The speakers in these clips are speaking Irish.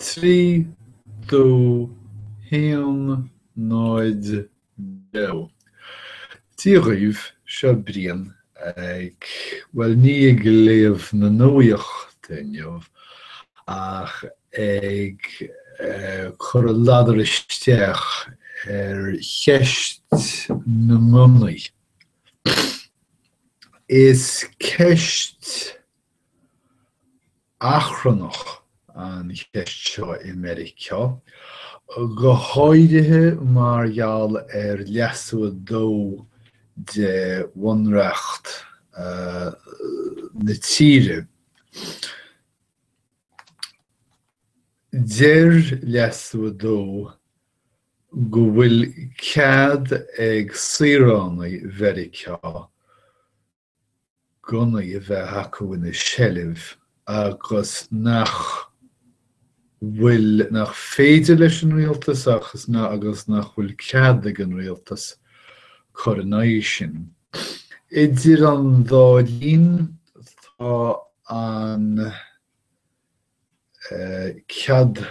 Trí dó haon náid beo. Dia dhaoibh, seo Brian ag, bhuel ní ag léamh na nuachta inniu ach ag cur a ladar isteach ar cheist na ngunnaí. Is ceist achrannach an cheist seo i Meiriceá, go háirithe mar gheall ar Leasú 2 de Bhunreacht na tíre. Deir Leasú 2 go bhfuil cead ag saoránaigh Mheiriceá gunnaí a bheith acu ina seilbh agus nach bhfuil, nach féidir leis an rialtas agus nach bhfuil cead ag an rialtas cur in aghaidh sin. Idir an dá linn tá an cead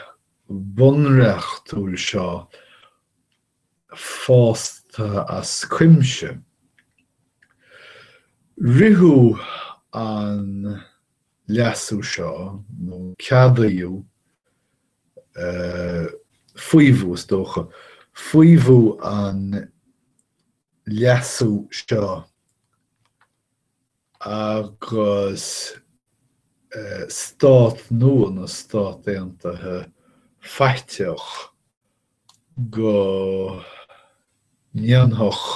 bunreachtúil seo fásta as cuimse. Ritheadh an leasú seo, nó ceadaíodh, faomhadh, is dócha, faomhadh an leasú seo agus stát nua na Stát Aontaithe faiteach go ndéanfadh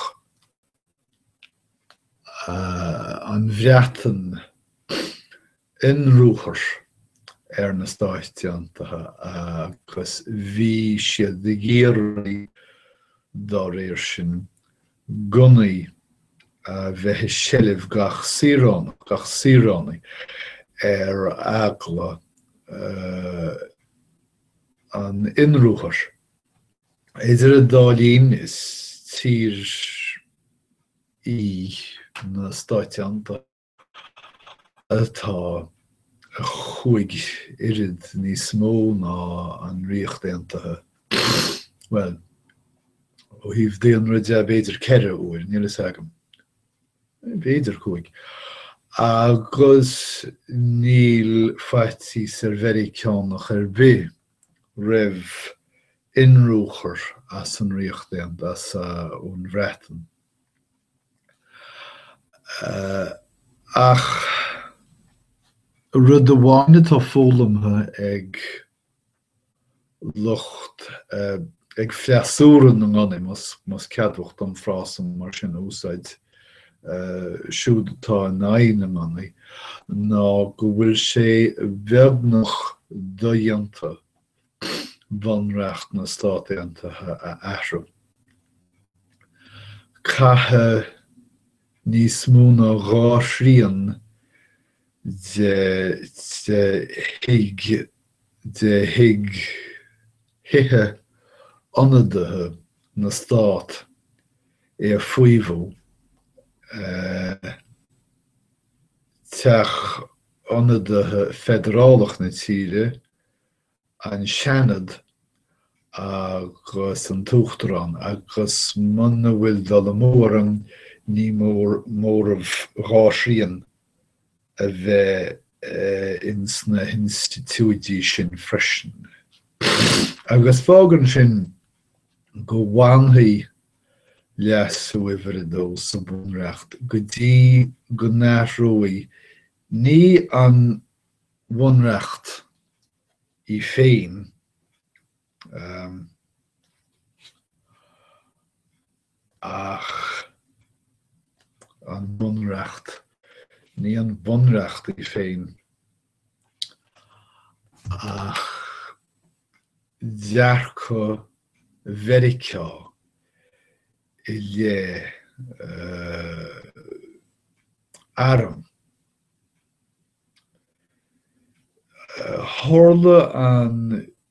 an Bhreatain ionruathar ar na Stáit Aontaithe agus bhí siad ag iarraidh, dá réir sin, gunnaí a bheith i seilbh gach saoránach, gach saoránaigh, ar eagla an ionruathair. Idir an dá linn is tír í na Stáit Aontaithe atá a chúig oiread níos mó ná an Ríocht Aontaithe, bhuel ó thaobh daonra de b'fhéidir ceithre uair, níl fhios agam. b'fhéidir cúig, agus níl faitíos ar Mheiriceánach ar bith roimh ionruchir as an Ríocht Aontaithe, as an Bhreatain. Ach rud amháin atá foghlamtha ag. lucht ag freasúra na ngunnaí, más ceadmhach dom an frása mar sin a úsáid, siúd atá in aghaidh na ngunnaí, ná go bhfuil sé beagnach dodhéanta Bunreacht na Stát Aontaithe a athrú. Caithfidh níos mó ná dhá thrian de de Thigh Thithe Ionadaithe na Stát é a fhaomhadh, Teach Ionadaithe Feidearálach na tíre, an Seanad agus an tUachtarán, agus muna bhfuil dul amú orm ní mór móramh dhá thrian a bheith in sna hinstitiúidí sin freisin. Agus fágann sin go bhfanfaidh leasú uimhir a dó sa bhunreacht go dtí go n-athróidh ní an bhunreacht í féin Ach an Bunreacht, ní an Bunreacht í féin ach dearcadh Mheiriceá i leith airm. Tharla an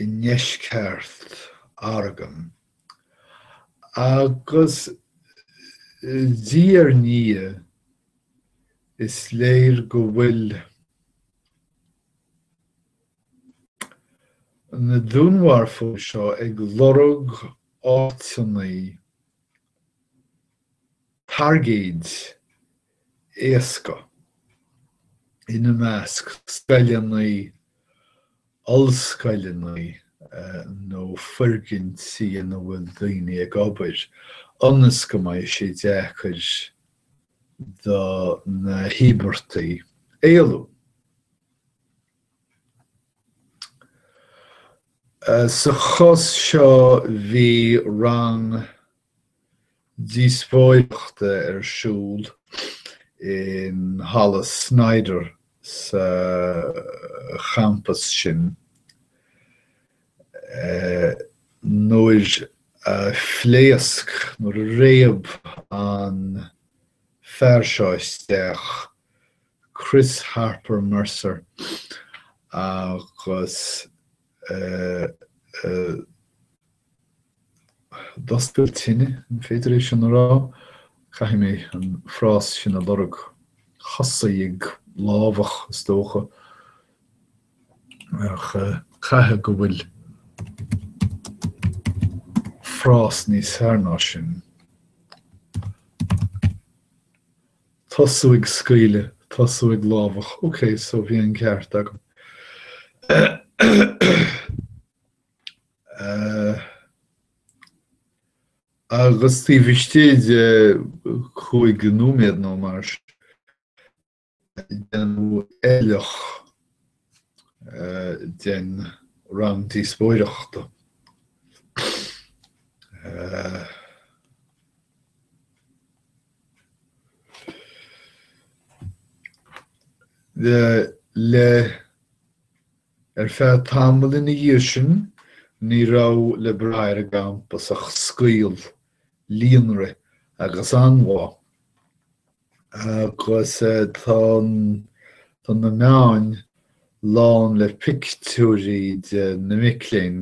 i ndeisceart Oregon, agus diaidh ar ndiaidh is léir go bhfuil na dúnmharfóirí seo ag lorg áiteannaí targaid éasca, ina measc scoileannaí, ollscoileannaí nó foirgintí ina bhfuil daoine ag obair, ionas go mbeidh sé deacair do na híobartaigh éalú. Sa chás seo bhí rang díospóireachta ar siúl in Halla Snyder sa champas sin nuair a phléasc, nuair a réab an fear seo isteach, Chris Harper Mercer, agus D'oscail tine, an féidir é sin a rá? Caithfidh mé an frás sin a lorg. Thosaigh ag lámhach is dócha, ach caithfidh go bhfuil frás níos fearr ná sin. Tosú ag scaoileadh, tosú ag lámhach, ok, so bhí an ceart agam. Agus taobh istigh de chúig nóiméad nó mar sin, déanadh éirleach den rang díospóireachta. Le Ar feadh tamaill ina dhiaidh sin ní raibh le braith ar an gcampas ach scaoll, líonrith agus anbhá. Agus tá na meáin lán le pictiúirí de na mic léinn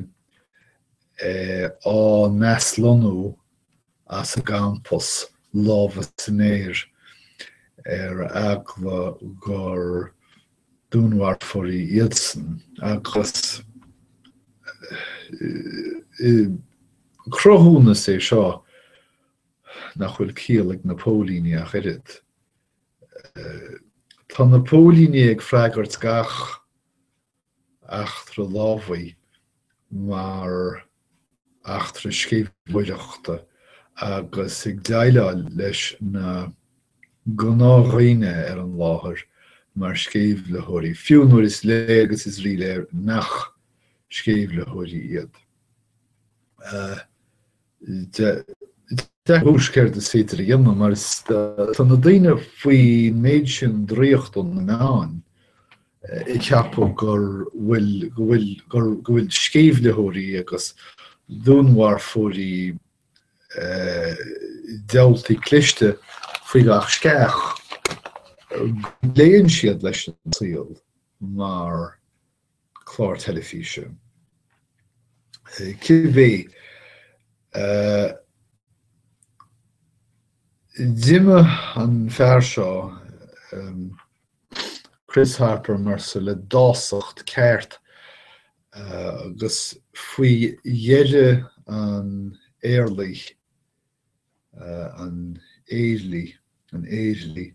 á n-aslonnú as a gcampas lámha san aer ar eagla gur dúnmharfóirí iadsan agus cruthúnas é seo nach bhfuil ciall ag na póilíní ach oiread. Tá na póilíní ag freagairt gach eachtra lámhaigh mar eachtra sceimhlitheoireachta agus ag déileáil leis na gnáthdhaoine ar an láthair mar sceimhlitheoirí, fiú nuair is léir agus is ríléir nach sceimhlitheoirí iad. Ní fios céard is féidir a dhéanamh mar is tá na daoine faoin méid sin draíocht ó na meáin ag ceapadh gur bhfuil, go bhfuil, go bhfuil sceimhlitheoirí agus dúnmharfóirí diabhaltaí cliste faoi gach sceach go leanann siad leis an saol mar chlár teilifíse cibé. D'imigh an fear seo, Chris Harper Mercer, le dásacht ceart agus faoi dheireadh an éirligh, an éirligh, an éirligh,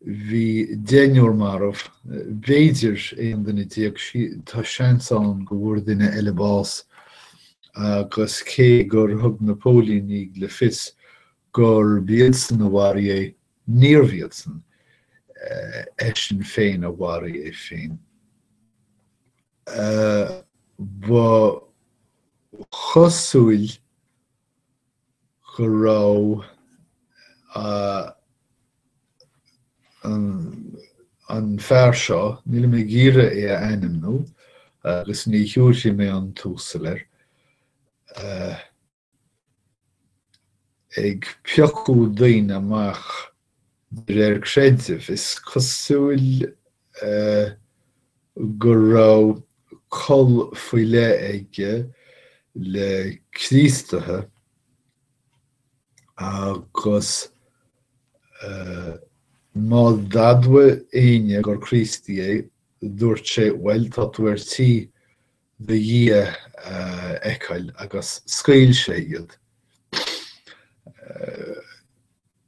bhí deichniúr marbh, b'fhéidir aon duine déag, tá seans ann go bhfuair duine eile bás agus cé gur thug na póilíní le fios gurb iadsan a mharaigh é, níorbh iadsan, eisean féin a mharaigh é féin. Ba chosúil go raibh an fear seo, nílim ag iarraidh é a ainmniú agus ní thiúrfaidh mé an tUasal air, ag piocadh daoine amach De réir creidimh, is cosúil go raibh col faoi leith aige le Críostaithe agus má d'admhaigh éinne gur Críostaí é, dúirt sé, bhuel, tá tú ar tí do Dhia a fheiceáil agus scaoil sé iad.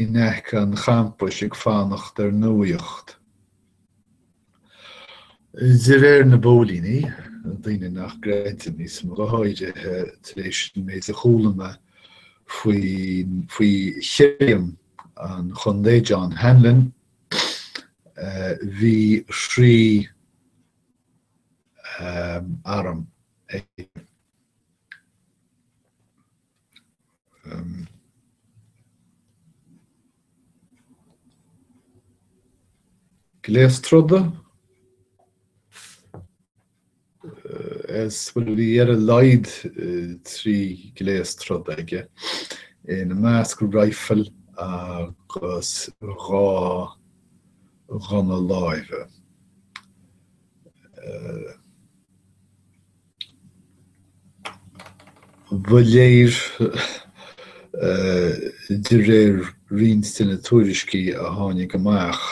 in aice an champais ag fanacht ar nuaíocht. De réir na bpóilíní, daoine nach gcreidim níos mó, go háirithe tar éis an méid a chuala mé faoi shirriam an chontae, John Hanlin, bhí trí arm aige. Um, Gléas troda is, bhuel, bhí ar a laghad trí gléas troda aige ina measc rifle agus dhá ghunna láimhe. Ba léir de réir roinnt de na tuairiscí a tháinig amach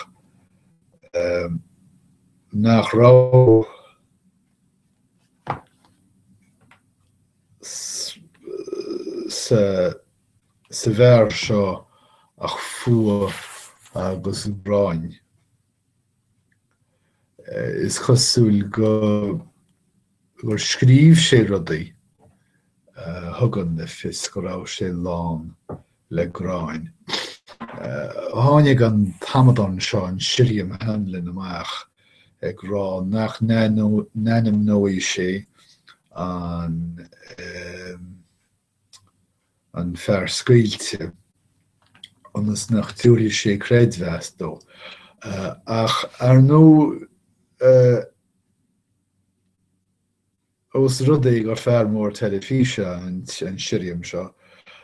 nach raibh sa bhfear seo ach fuath agus gráin. Is cosúil go gur scríobh sé rudaí a thugann le fios go raibh sé lán le gráin. Tháinig an t-amadán seo an Sirriam Hanlin amach ag rá nach n-ainmneoidh sé an an fear scaoilte, ionas nach dtabharfaidh sé creidmheas dó. Ach, ar ndóigh, ós rud é gur fear mór teilifíse an sirriam seo,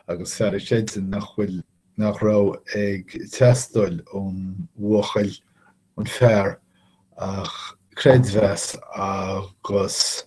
agus fear a chreideann nach bhfuil, nach raibh ag teastáil ón bhuachaill, an fear, ach creidmheas agus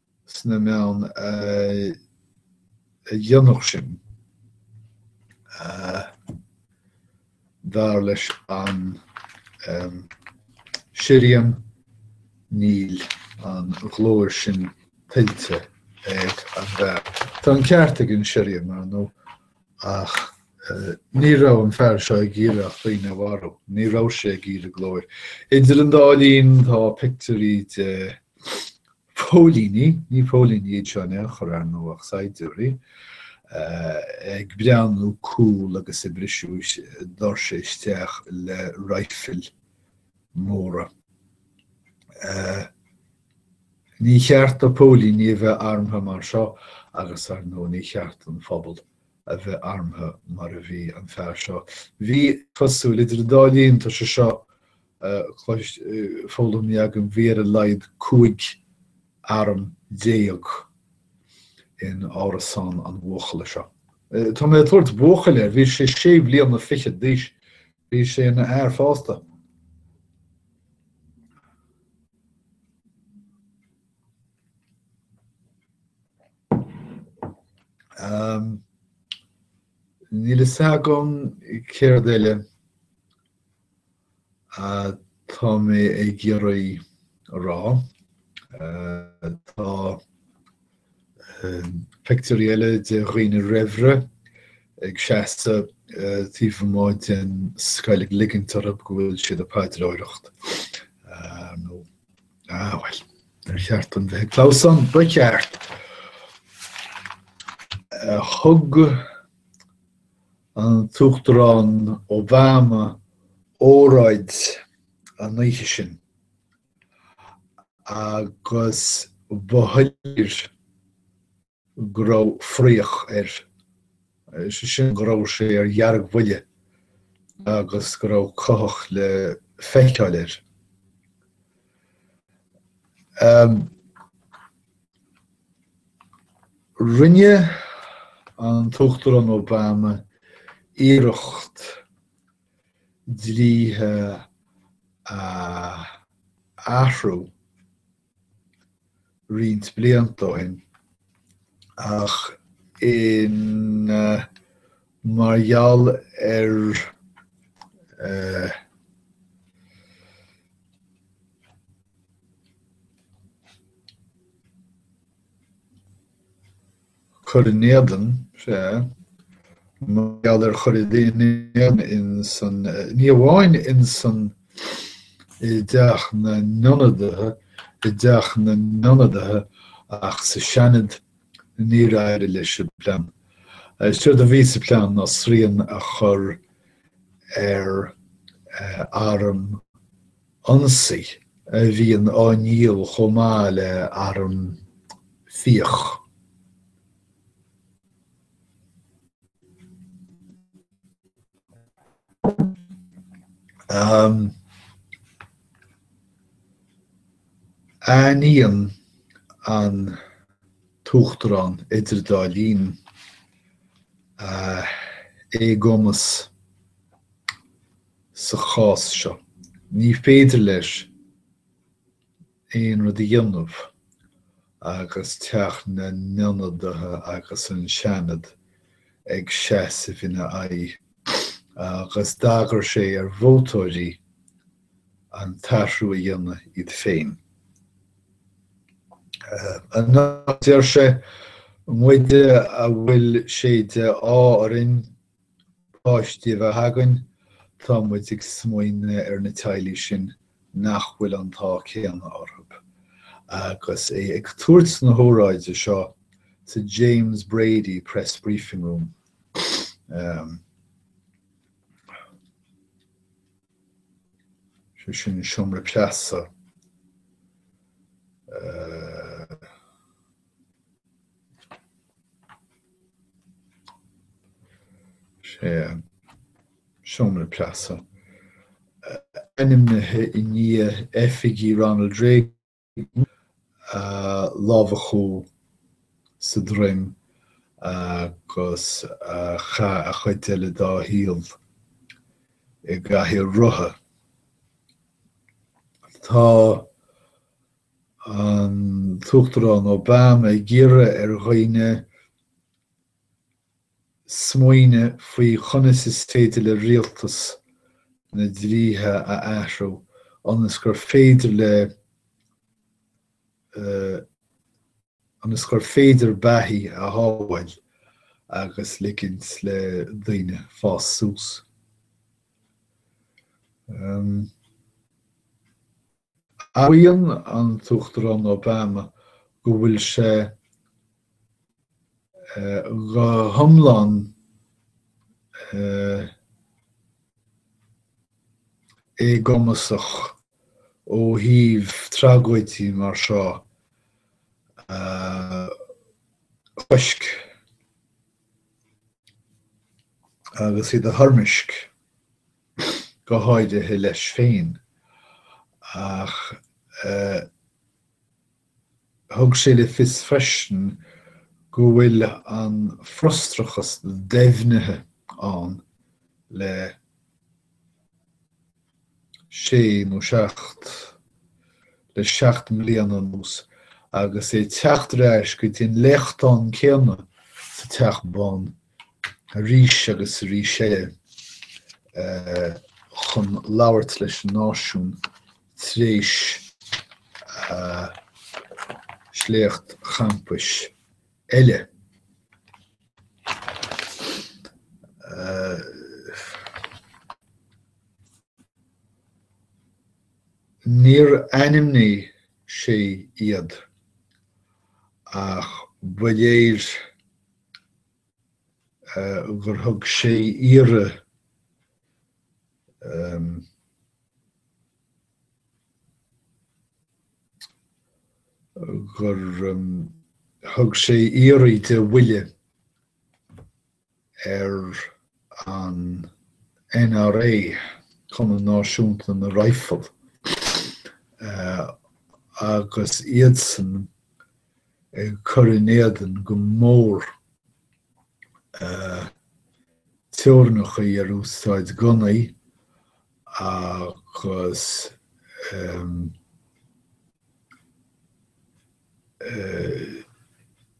sna meáin a dhéanfadh sin, dar leis an sirriam, níl an ghlóir sin tuillte ag an bhfear. Tá an ceart ag an sirriam, ar ndóigh, ach ní raibh an fear seo ag iarraidh ach daoine a mharú, ní raibh sé ag iarraidh glóir. Idir an dá linn tá pictiúirí de Póilíní, ní póilíní iad seo in aon chor ar ndóigh ach saighdiúirí, ag breathnú cool agus ag briseadh doirse isteach le raidhfil mhóra. Ní cheart do póilíní a bheith armtha mar seo agus ar ndóigh ní cheart don phobal a bheith armtha mar a bhí an fear seo. Bhí, cosúil, idir an dá linn tá sé seo Clois foghlamtha agam bhí ar a laghad 15 arm in árasán an bhuachalla seo. Tá mé ag tabhairt buachaill air, bhí sé sé bliana fichead d'aois, bhí sé ina fhear fásta. Níl a fhios agam céard eile. Atá mé ag iarraidh a rá. Tá pictiúirí eile de dhaoine raimhre ag seasamh taobh amuigh den scoil ag ligint orthu go bhfuil siad ag paidreoireacht. Ah, bhuel, ar cheart dom bheith ag clamhsán, ba cheart. Thug an tUachtarán Obama óráid ar an oíche sin agus ba shoiléir go raibh fraoch air, is é sin go raibh sé ar dheargbhuile agus go raibh cuthach le feiceáil air. Rinne an tUachtarán Obama iarracht dlíthe a athrú roinnt blianta ó shin ach in mar gheall ar cuir in éadan sé mar gheall ar chur in éadan insan ní amháin insan i dTeach na nIonadaithe i dTeach na nIonadaithe ach sa Seanad Níor éirigh leis an bplean. Is éard a bhí sa phlean ná srian a chur ar arm ionsaí a bhíonn á ndíol chomh maith le arm fiach. Aithníonn an tUachtarán idir dá línn a éagumas sa chás seo. Ní féidir leis aon rud a dhéanamh agus Teach na nIonadaithe agus an Seanad ag seasamh ina aghaidh agus d'agair sé ar vótóirí, an t-athrú a dhéanamh iad féin. Anocht deir sé, muide a bhfuil sé de ádh orainn páistí a bheith againn, tá muid ag smaoineamh ar na teaghlaigh sin nach bhfuil an t-ádh céanna orthu. Agus é ag tabhairt na hóráide seo sa James Brady Press Briefing Room, sé sin seomra preasa eh. sé seomra preasa eh, ainmnithe i ndiaidh oifigeach Ronald Reagan. lámhachadh sa droim agus chaith an chuid eile dá shaol i gcathaoir rotha. Tá an tUachtarán Obama ag iarraidh ar dhaoine smaoineamh faoi chonas is féidir le rialtas na dlíthe a athrú ionas gur féidir le ionas gur féidir beathaí a shábháil agus ligint le daoine fás suas. Admhaíonn an tUachtarán Obama go bhfuil sé go hiomlán éagumasach ó thaobh tragóidí mar seo a chosc agus iad a thoirmeasc. go háirithe leis féin ach thug sé le fios freisin go bhfuil an frustrachas deimhnithe ann le sé nó seacht, le seacht mbliana anuas agus é ag teacht ar ais go dtí an léachtán céanna sa Teach Bán arís agus arís eile chun labhairt leis an náisiún tar éis sléacht champais eile. Níor ainmnigh sé iad ach ba léir gur thug sé iarraidh gur thug sé iarraidh de bhuille ar an NRA, Cumann Náisiúnta na Raidhfilí, agus iadsan ag cur in éadan go mór teorainneacha ar úsáid gunnaí agus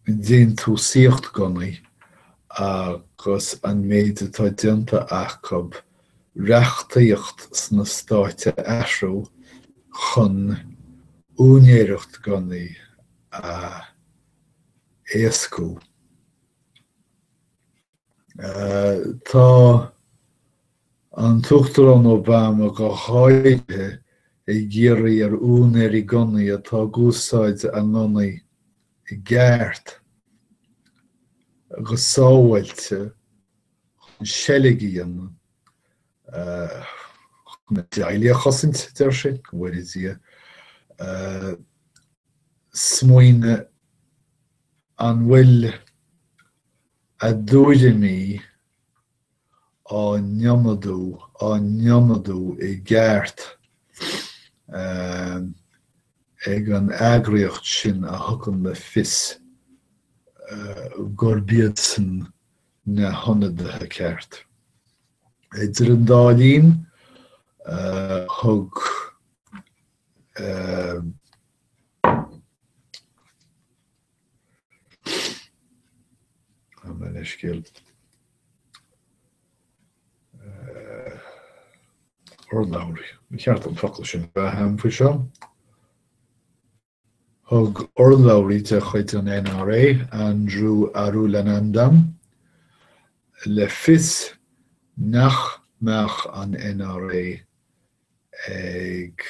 déantúsaíocht gunnaí agus an méid atá déanta acub reachtaíocht sna Stáit a athrú chun úinéireacht gunnaí a éascú. Tá an tUachtarán Obama go háirithe ag iarraidh ar úinéirí gunnaí atá ag úsáid a ngunnaí i gceart, go sábháilte chun seilg a dhéanamh, chun a dteaghlaigh a chosaint, deir sé, go bhfóire Dia. smaoineamh an bhfuil a dtuairimí á n-iomadú, á n-iomadú i gceart ag an eagraíocht sin a thugann le fios gurb iadsan na hionadaithe ceart. Idir an dá linn, thug gabh mo leithscéal, urlabhraí. Ba cheart an focal sin a bheith agam faoi seo. Thug urlabhraí de chuid an NRA, Andrew Arulanandam, le fios nach mbeadh an NRA ag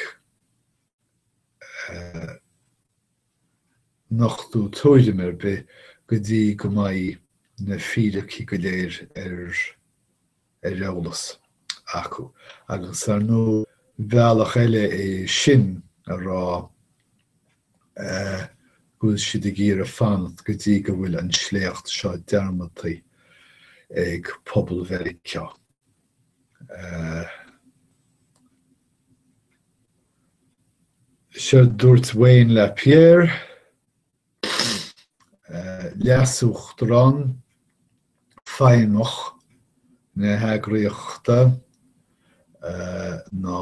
nochtadh tuairim ar bith go dtí go mbeidh na fíricí go léir ar eolas acu agus ar ndóigh bealach eile é sin a rá go bhfuil siad ag iarraidh fanacht go dtí go bhfuil an sléacht seo dearmadtaí ag pobal Mheiriceá. Sé a dúirt Wayne Lapierre, Leasuachtarán Feidhmeach na heagraíochta ná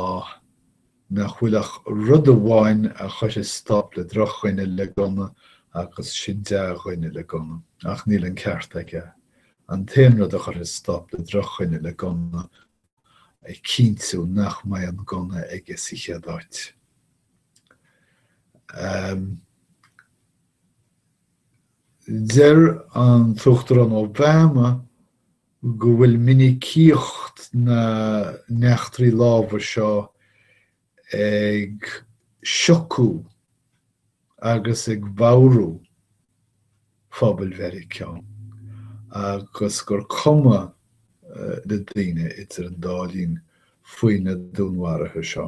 nach bhfuil ach rud amháin a chuirfeas stop le drochdhuine le gunna agus sin dea-dhuine le gunna. Ach níl an ceart aige. An t-aon rud a chuirfeas stop le drochdhuine le gunna ná cinntiú nach mbeidh an gunna aige sa chéad áit. Deir an tUachtarán Obama go bhfuil minicíocht na n-eachtraí lámhaigh seo ag siocadh agus ag bodhrú phobal Mheiriceá agus gur cuma le daoine idir an dá linn faoi na dúnmharuithe seo.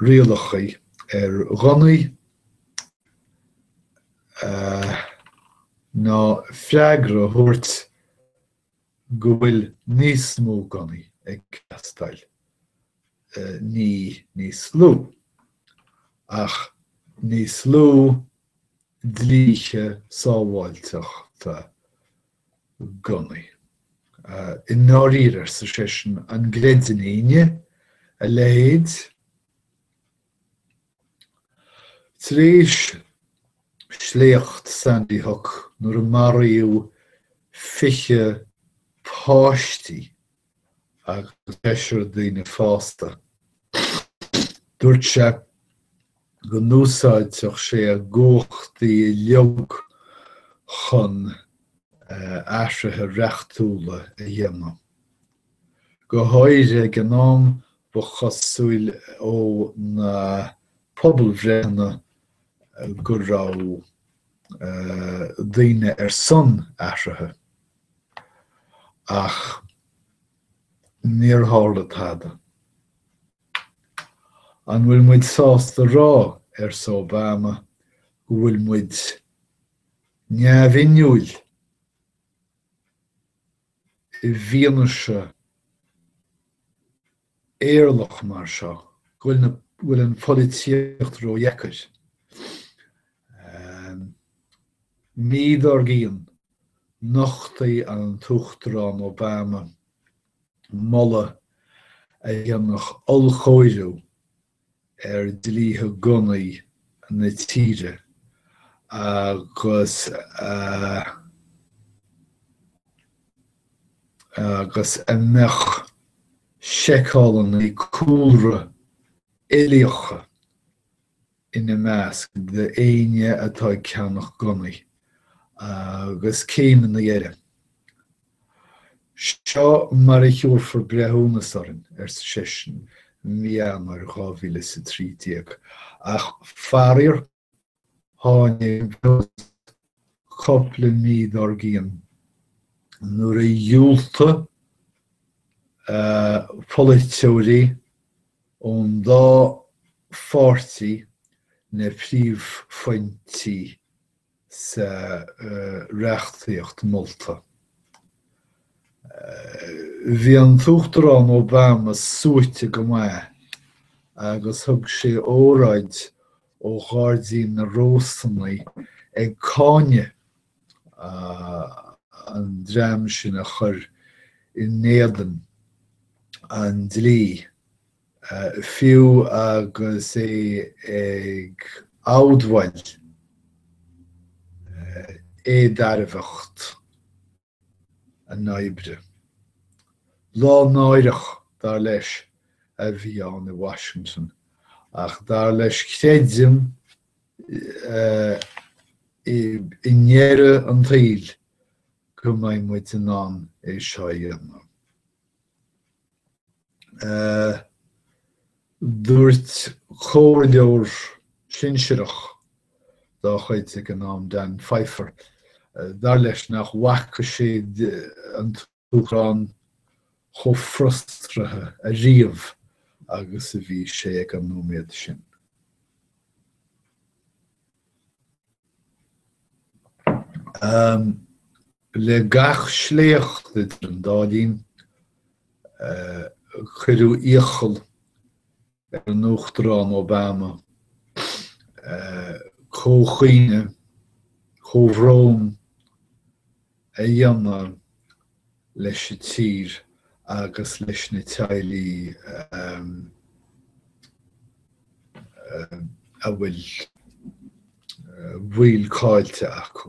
rialacha ar ghunnaí ná freagra a thabhairt go bhfuil níos mó gunnaí ag teastáil, ní níos lú, ach níos lú dlíthe sábháilteachta gunnaí. I ndáiríre, arsa seisean, an gcreideann éinne a leithéid? Tar éis sléacht Sandy Hook nuair a maraíodh 20 páistí agus seisear daoine fásta. Dúirt sé go n-úsáidfeadh sé a gcumhachtaí uilig chun athruithe reachtúla a dhéanamh. Go háirithe ag an am ba chosúil ó na pobalbhreitheanna go raibh daoine ar son athruithe. Ach níor tharla tada. An bhfuil muid sásta rá, arsa Obama, go bhfuil muid neamhinniúil i bhfianaise éirleach mar seo go bhfuil an pholaitíocht ródheacair. Mí dár gcionn, nochtaigh an tUachtarán Obama moladh a dhéanfadh ollchóiriú ar dlíthe gunnaí na tíre agus agus a mbeadh seiceálanna cúlra uilíocha ina measc d'éinne atá ag ceannach gunnaí agus céimeanna eile. Seo mar a thabharfar breithiúnas orainn, arsa seisean i mí Eanáir 2013, ach faraor tháinig an cúpla mí dár gcionn nuair a dhiúltaigh polaiteoirí ón dá pháirtí na príomhphointí. sa reachtaíocht molta. Bhí an tUachtarán Obama suaite go maith agus thug sé óráid ó Ghairdín na Rósanna ag cáineadh an dream sin a chuir in éadan an dlí. Fiú agus é ag admháil éadairbheacht a n-oibre, lá náireach, dar leis, a bhí ann i Washington, ach dar leis creidim i ndeireadh an tsaoil go mbeidh muid in ann é seo a dhéanamh. Dúirt comhairleoir sinsireach dá chuid ag an am, Dan Pfeiffer, dar leis nach bhfaca sé an tUachtarán chomh frustraithe ariamh agus a bhí sé ag an nóiméad sin. Le gach sléacht idir an dá linn cuireadh iachall ar an Uachtarán Obama comhchaoineadh, comhbhrón a dhéanamh leis an tír agus leis na teaghlaigh a bhfuil baill caillte acu.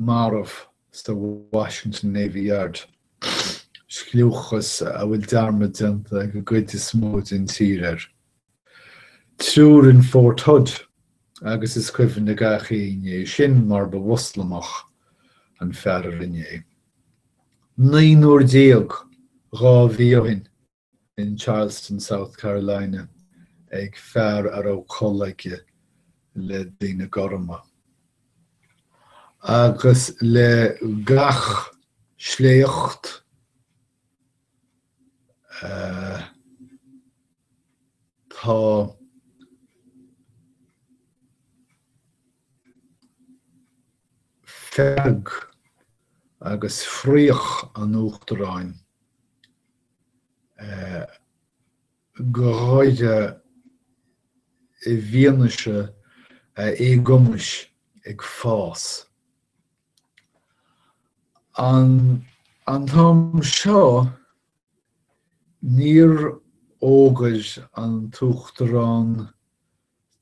marbh sa Washington Navy Yard, scliúchas a bhfuil dearmad déanta ag an gcuid is mó den tír air. Triúr in Fort Hood agus is cuimhin le gach aoinne é sin mar ba Mhoslamach an fear a rinne é. Naonúr déag, dhá mhí ó shin, in Charleston, South Carolina, ag fear a raibh col aige le daoine gorma. Agus le gach sléacht tá fearg agus fraoch an Uachtaráin go háirithe i bhfianaise a éagumais ag fás. An t-am seo níor fhógair an tUachtarán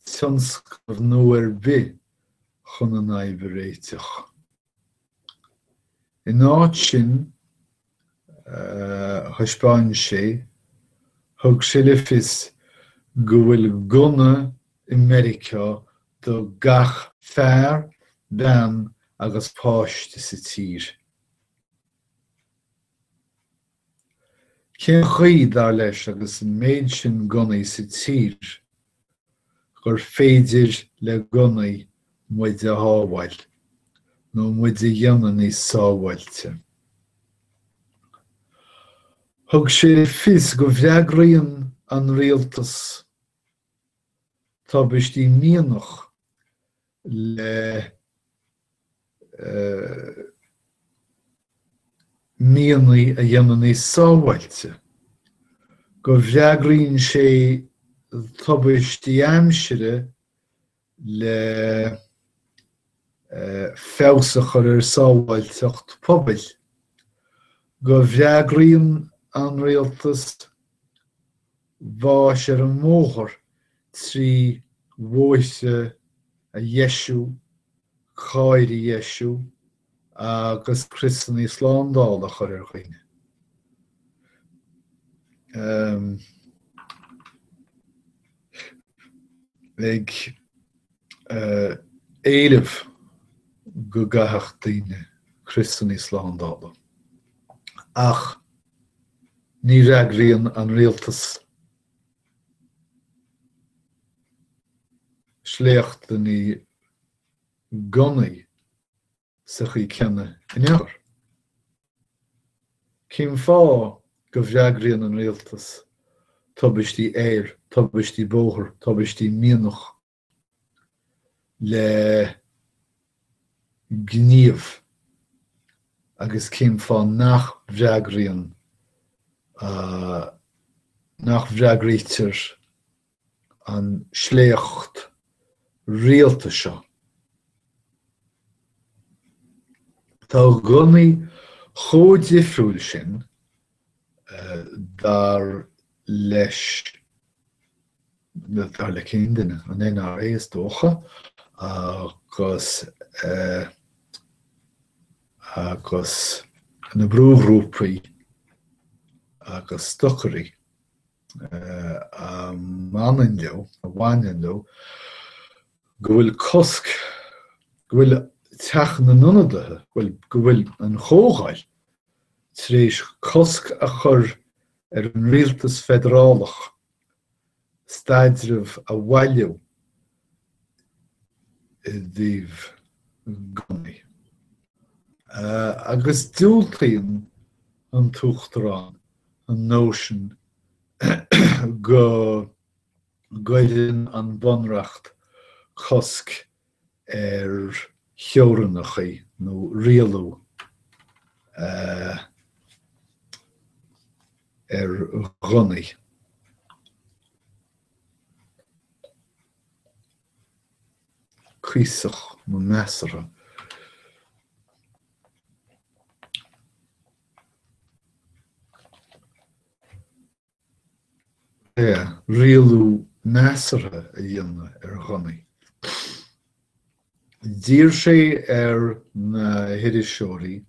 tionscnamh nua ar bith chun an fhadhb a réiteach. In áit sin, thaispeáin sé, thug sé le fios go bhfuil gunna i Meiriceá do gach fear, bean agus páiste sa tír. Cén chaoi, dar leis, agus an méid sin gunnaí sa tír, gur féidir le gunnaí muid a shábháil, nó muid a dhéanamh níos sábháilte? Thug sé le fios go bhfreagraíonn an rialtas tubaistí mianach le mianaigh a dhéanamh níos sábháilte, go bhfreagraíonn sé tubaistí aimsire le feabhas a chur ar sábháilteacht pobail, go bhfreagraíonn an rialtas bás ar an mbóthar trí bhóithre a dheisiú, cairr a dheisiú agus criosanna slándála a chur ar dhaoine. ag éileamh go gcaithfeadh daoine criosanna slándála. Ach. Ní fhreagraíonn an rialtas sléachtanna gunnaí sa chaoi céanna in aon chor. Cén fáth go bhfreagraíonn an rialtas tubaistí aeir, tubaistí bóthar, tubaistí mianach? le gníomh agus cén fáth nach bhfreagraíonn, nach bhfreagraítear an sléacht rialta seo? Tá gunnaí chomh difriúil sin Dar leis, dar le cén duine? An NRA is dócha agus na brúghrúpaí agus stocairí, a mbaineann leo, a bhaineann leo go bhfuil cosc, go bhfuil teach na n-ionadaithe, go bhfuil an chomhdháil tar éis cosc a chur ar an rialtas feidearálach staidreamh a bhailiú i dtaobh gunnaí, agus diúltaíonn an tUachtarán an nóisean go gcuireann an bunreacht cosc ar theorainneachaí nó rialú ar ghunnaí. Cuíosach nó measartha. rialú measartha a dhéanamh ar ghunnaí. D'iarr sé ar na hiriseoirí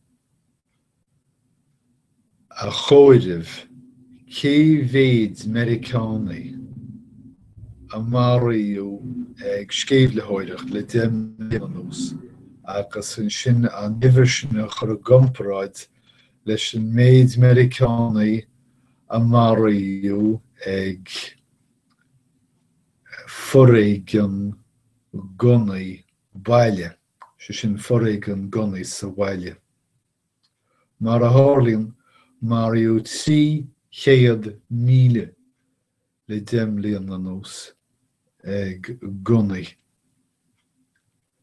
a chomhaireamh cé mhéid Meiriceánaigh a maraíodh ag sceimhlitheoireacht le deich mbliana anuas agus ansin an uimhir sin a chur i gcomparáid leis an méid Meiriceánaigh a maraíodh ag foréigean gunnaí baile, sé sin foréigean gunnaí sa bhaile. Mar a tharlaíonn, maraíodh 300,000 le deich mbliana anuas ag gunnaí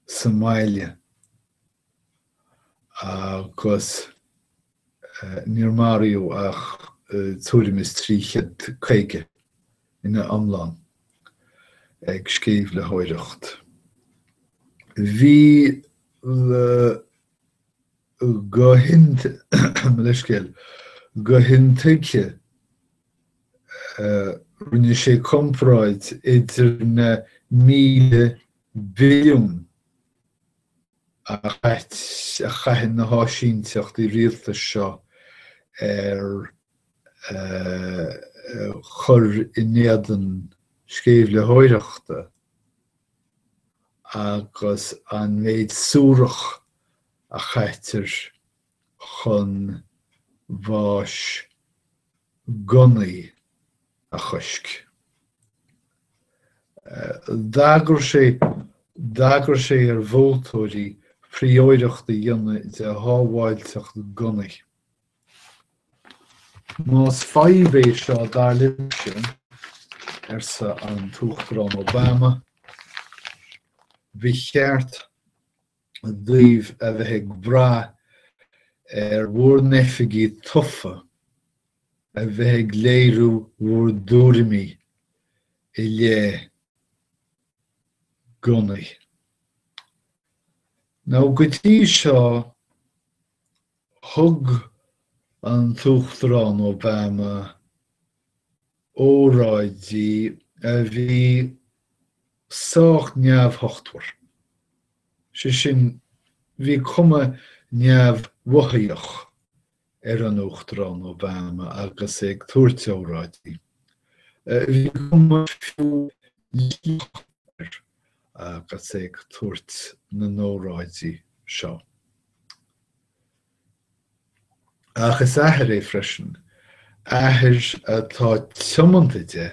sa mbaile. agus níor maraíodh ach tuairim is 350 ina iomlán ag sceimhlitheoireacht. Bhí mo leithscéal, go hintuigthe rinne sé comparáid idir na míle billiún áit a chaitheann na háisínteachtaí rialtais seo ar chur in éadan sceimhlitheoireachta agus an méid suarach a chaitear chun bháis gunnaí a choisc. D'agair sé d'agair sé ar vótóirí prióireacht a dhéanamh de shábháilteacht gunnaí. Más fadhb é seo dar libhse, arsa an tUachtarán Obama, bhí ceart daoibh a bheith ag brath ar bhur n-oifigí tofa a bheith ag léiriú bhur dtuairimí i leith gunnaí. Nó go dtí seo thug an tUachtarán Obama óráidí a bhí sách neamhthochtmhar. Sé sin, bhí cuma neamhmhothaíoch ar an Uachtarán Obama agus é ag tabhairt óráidí. Bhí cuma fiú líofa air agus é ag tabhairt na n-óráidí seo. Ach is athair é freisin, athair atá tiomanta de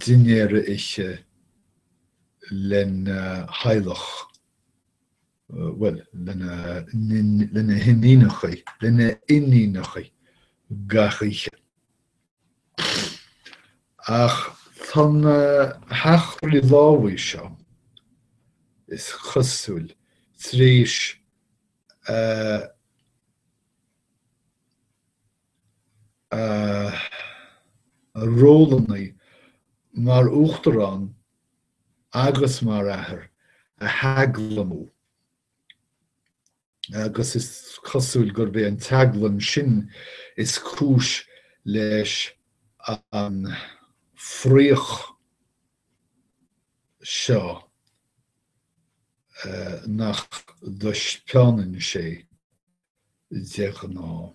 dinnéar a ithe lena theaghlach, bhuel, lena hiníonachaí, lena iníonachaí gach oíche. Ach tá na heachtraí lámhaigh seo, is cosúil, tar éis a rólannaí mar uachtarán agus mar athair a theaglamú. agus is cosúil gurb é an teaglaim sin is cúis leis an fraoch seo nach dtaispeánann sé de ghnáth.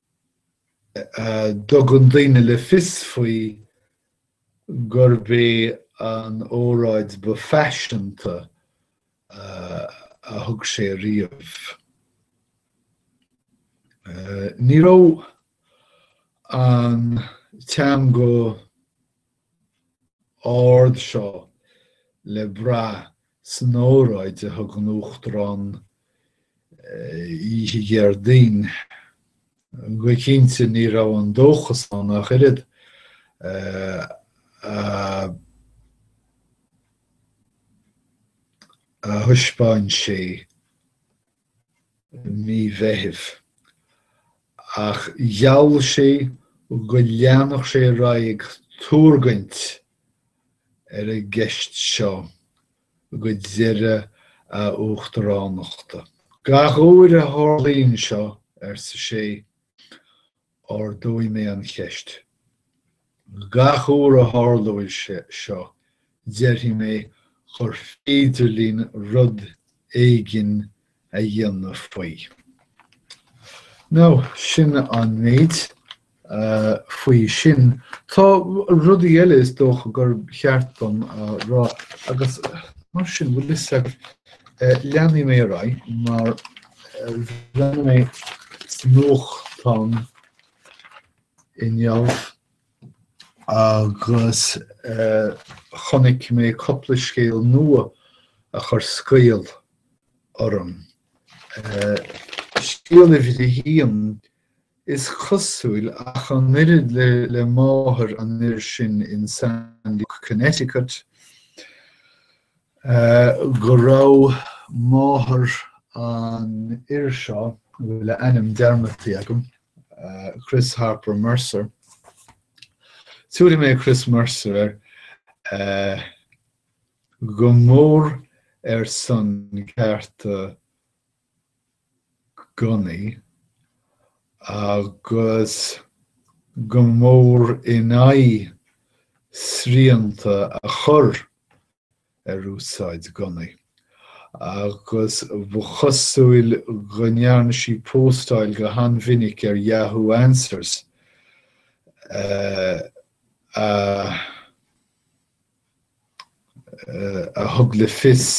a dtugann daoine le fios faoi gurb é an óráid ba phaiseanta a thug sé riamh. Ní raibh an teanga ard seo le brath san óráid a thug an Uachtarán oíche Dhéardaoin. Go cinnte ní raibh an dóchas ann ach oiread. a thaispeáin sé. mí Mheithimh, ach gheall sé go leanfadh sé ar aghaidh ag tuargaint ar an gceist seo go deireadh a uachtaránachta. Gach uair a tharlaíonn seo, arsa sé, ardóidh mé an cheist. Gach uair a tharlóidh seo, déarfaidh mé gur féidir linn rud éigin a dhéanamh faoi. Now, sin an méid faoi sin. Tá rudaí eile is dócha gur cheart dom a rá, agus mar sin, bhfuil fhios agat, leanfaidh mé ar aghaidh mar, Bhreathnaigh mé nuachtán inniu agus chonaic mé cúpla scéal nua a chuir scaoll orm. Scéal uimhir a haon Is cosúil, ach an oiread le máthair an fhir sin in Sandy Hook, Connecticut, go raibh máthair an fhir seo, a bhfuil a ainm dearmadtaí agam, Chris Harper Mercer, tiúrfaidh mé Chris Mercer air, go mór ar son cearta gunnaí agus go mór in aghaidh srianta a chur ar úsáid gunnaí agus ba chosúil go ndearna sí póstáil go han-mhinic ar Yahoo Answers a thug le fios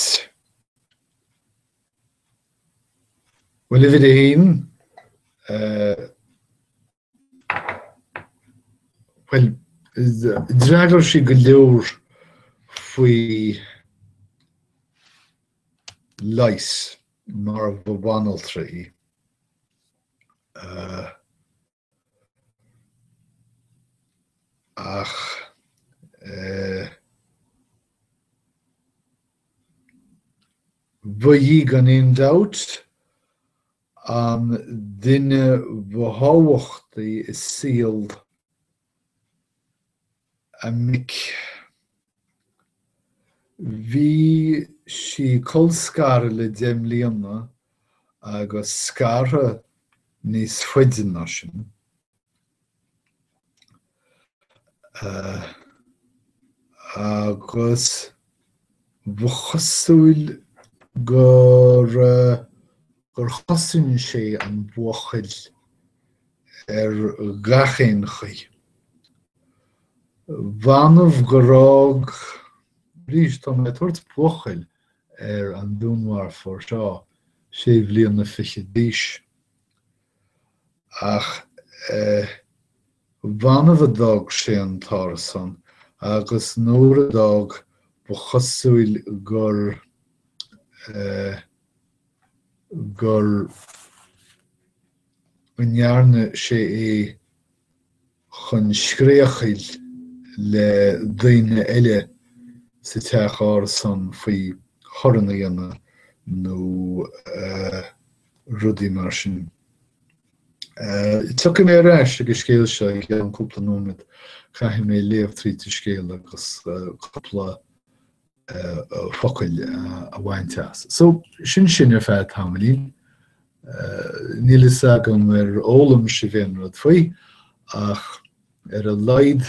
Bhuel, uimhir a haon, bhuel, d'fhreagair sí go leor faoi Leighis mar ba bhanaltra í. ach ba í gan aon dabht an duine ba thábhachtaí i saol a mic. Bhí sí colscartha le deich mbliana agus scartha níos faide ná sin. Agus. Ba chosúil gur gur chosain sí an buachaill ar gach aon chaoi. B'annamh gur fhág arís tá mé ag tabhairt buachaill ar an dúnmharfóir seo sé bliana fichead d'aois. Ach b'annamh a d'fhág sé an t-árasán agus nuair a d'fhág ba chosúil gur go ndearna sé é chun scréachaíl le daoine eile sa teach árasán faoi thorann a dhéanamh nó rudaí mar sin. Tiocfaidh mé ar ais ag an scéal seo i gceann cúpla nóiméad, caithfidh mé léamh tríd an scéal agus cúpla focal a bhaint as. So sin sin ar feadh tamaillín. Níl a fhios agam ar fhoghlaim sibh aon rud faoi ach ar a laghad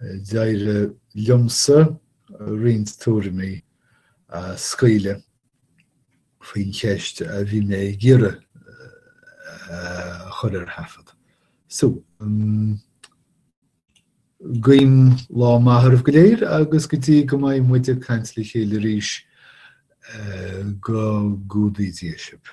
d'éirigh liomsa roinnt tuairimí a scaoileadh faoin cheist a bhí mé ag iarraidh a chur ar thaifead. So, Guím lá maith oraibh go léir agus go dtí go mbeidh muid ag caint le chéile arís, go gcumhdaí Dia sibh.